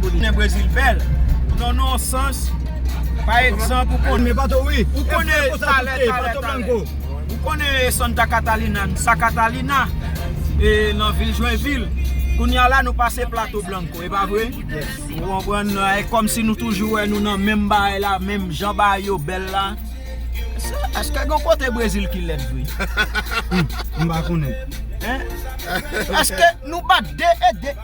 Konnen Brezil bèl nan yon sans Pa egzanp ou konnen Santa Catalina Sa Katalina nan vil Jwenvil Kounye a la nou pase Plato Blanco e pa vre Ou konprann e kòmsi nou toujou wè nou nan menm bagay la menm jan bagay yo bèl la Èske gen kote Brezil ki lèd vre? Èske nou pa 2 e 2?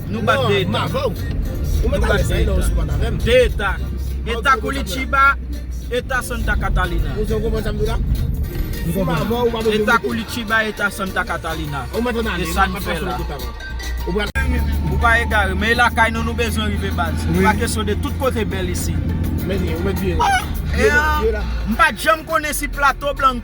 Nou bat 2 eta. Nou bat 2 eta. 2 eta. Eta Koulitiba, eta Santa Catalina. Eta Koulitiba, eta Santa Catalina. E sa n fè la. Ou pa egare. Men e lakay nou nou bezwen rive baz. Ou pa kesyon de tout kote bèl isi. M pa janm konnen si plato blan.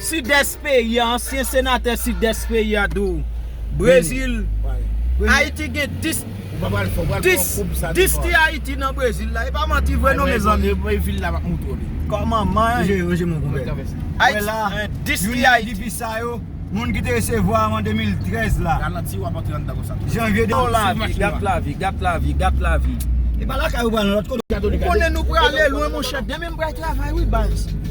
Sidès peyi a, ansyen senatè Sidès peyi a di w Brezil, Ayiti gen 10 10 ti Ayiti nan Brezil la, e pa manti vre non mezanmi. Kòman man y? Youn nan dpi sa yo, moun ki te resevwa an 2013 la. Janvye 2013. Gat lavi, gat lavi, gat lavi. Ou konnen nou prale lwen monchè, demen m pral travay wi baz.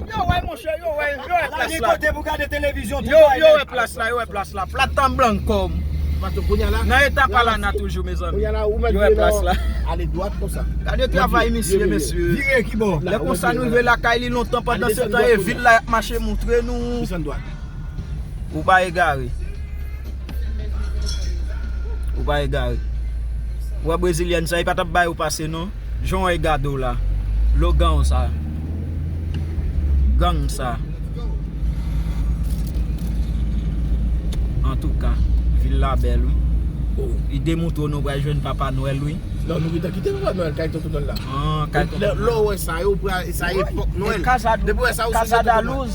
Yo wè monchè yo wè yo wè plas la. Yo wè plas la yo wè plas la platan blan kom. Nan eta palana toujou mezanmi. Yo wè plas la. Gade travay misye mesye. Lè konsa nou rive lakay li lontan pandan se tan e vil la yap mache moutre nou. Ou pa egare. Ou pa egare. Ou wè brezilyèn sa, li pa t ap bay ou pase non. Jan w wè li gade w la. Logan w sa. Gang sa. Antouka, vil la bèl wi. Ide moutro nou pral jwenn papa nwèl wi. Non nou gentan kite papa nwèl kay tonton nwèl la. An kay tonton nwèl. Lè w wè sa yo pral sa epòk nwèl. Depi w wè sa ou sonje papa nwèl. Kasa da luz.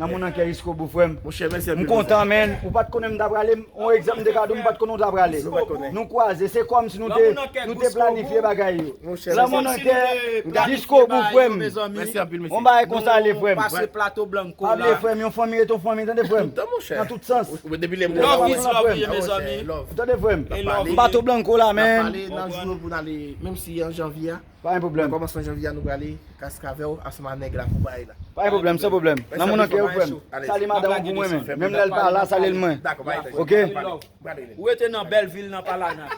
Lanmou nan kè jiskobou frèm. M kontan menn. Ou pat konnen m ta prale yon egzanp m te ka dou m pat konnen w ta prale. Nou kwaze se kòmsi nou te nou te planifye bagay yo. Lanmou nan kè jiskobou frèm. Yon bagay konsa le frèm. Pa bliye frèm yon fanmi rete yon fanmi tande frèm. Nan tout sans. Love is love wi mezanmi. Tande frèm. Bato blanco la menn. Nap pale nan jou yo pou n ale menm si an janvye a. Pa gen pwoblèm. Kòmansman janvye a nou prale kask avèw ansanm a nèg la pou baay la. Pa gen pwoblèm san pwoblèm. Lanmou nan kèw frèm. Salye madanm ou pou mwen men. Menm lèl pa la salyel mwen. Dakò pa gen pwoblèm. Ok. Ou rete nan bèl vil nan pa la nan.